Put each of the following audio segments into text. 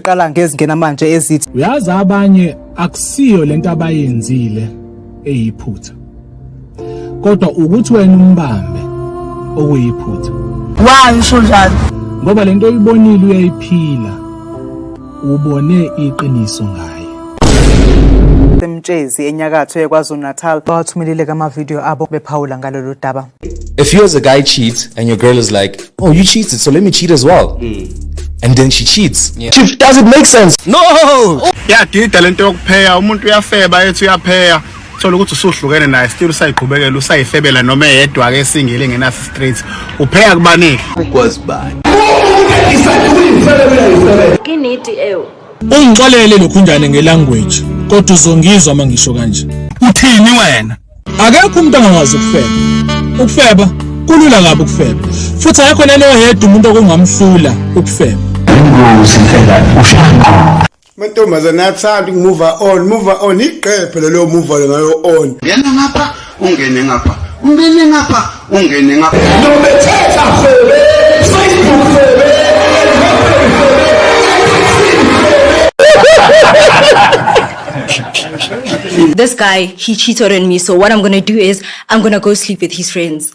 siqala ngezingena manje ezithi uyazi abanye akusiyo lento abayenzile eyiphutha kodwa ukuthi wena umbambe okuyiphutha why usho njalo ngoba lento oyibonile uyayiphila Ubone iqiniso ngaye. emtshezi enyakatho yekwazulu-natal bawathumelile kamavidiyo abo bephawula ngalolu daba A few years a guy cheats and your girl is like, oh, you cheated, so let me cheat as well. And then she cheats. Yeah. Chief, does it make sense? No! yadida lento yokupheya umuntu uyafeba ethi uyapheya thola ukuthi usuhlukene naye still usayiqhubekela usayifebela noma eyedwa ke singile engenaso straight upheka kubanike ukwazi bani inidi ewu ungixolele lokhunjane ngelanguage kodwa uzongizwa uma ngisho kanje uthini wena akekho umuntu angakwazi ukufeba ukufeba kulula kabi ukufeba futhi akekho nani oyedwa umuntu okungamhlula ukufeba ingozi phela ushaqo mantombazane athanda ukumove on move on iqephe lelo move on ngayo on ngena ngapha ungene ngapha ungene ngapha ungene ngapha nobethetha febe facebook febe This guy, he cheated on me, so what I'm gonna do is I'm gonna go sleep with his friends.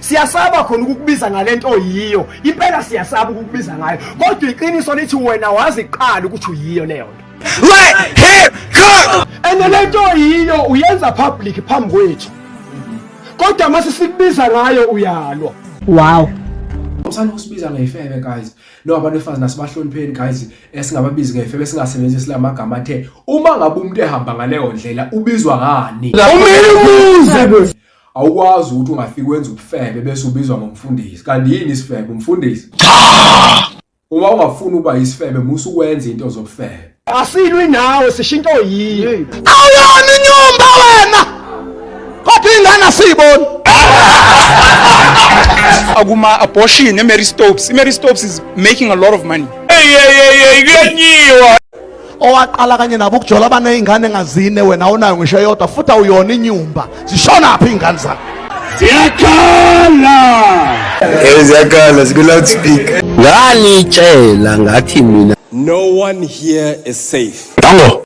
Siyasaba khona ukukubiza ngalento oyiyo. Impela siyasaba ukukubiza ngayo. Kodwa iqiniso lithi wena wazi kuqala ukuthi uyiyo leyo nto. Let him cook. Ene lento oyiyo uyenza public phambi kwethu. Kodwa mase sikubiza ngayo uyalwa. Wow. Usana usibiza ngefebe guys. No abantu befazi nasibahlonipheni guys esingababizi ngefebe singasebenzisi lamagama athe uma ngabe umuntu ehamba ngaleyo ndlela ubizwa ngani? Umile umuze. awukwazi ukuthi ungafika wenza ubufebe bese ubizwa ngomfundisi kanti yini isifebe umfundisi uma ungafuni ukuba isifebe musa ukwenza into zobufebe asilwi nawe sishinto yini awuyona inyumba wena kodwa ingane asiyiboni akuma abortion eMary Stopes iMary Stopes is making a lot of money hey hey hey kuyanyiwa owaqala kanye nabo ukujola abanezingane engazine wena awunayo ngisho yodwa futhi awuyona inyumba zishona phi izingane zakho ziyakhala eh ziyakhala ziku loudspeaker nganitshela ngathi mina no one here is safe tango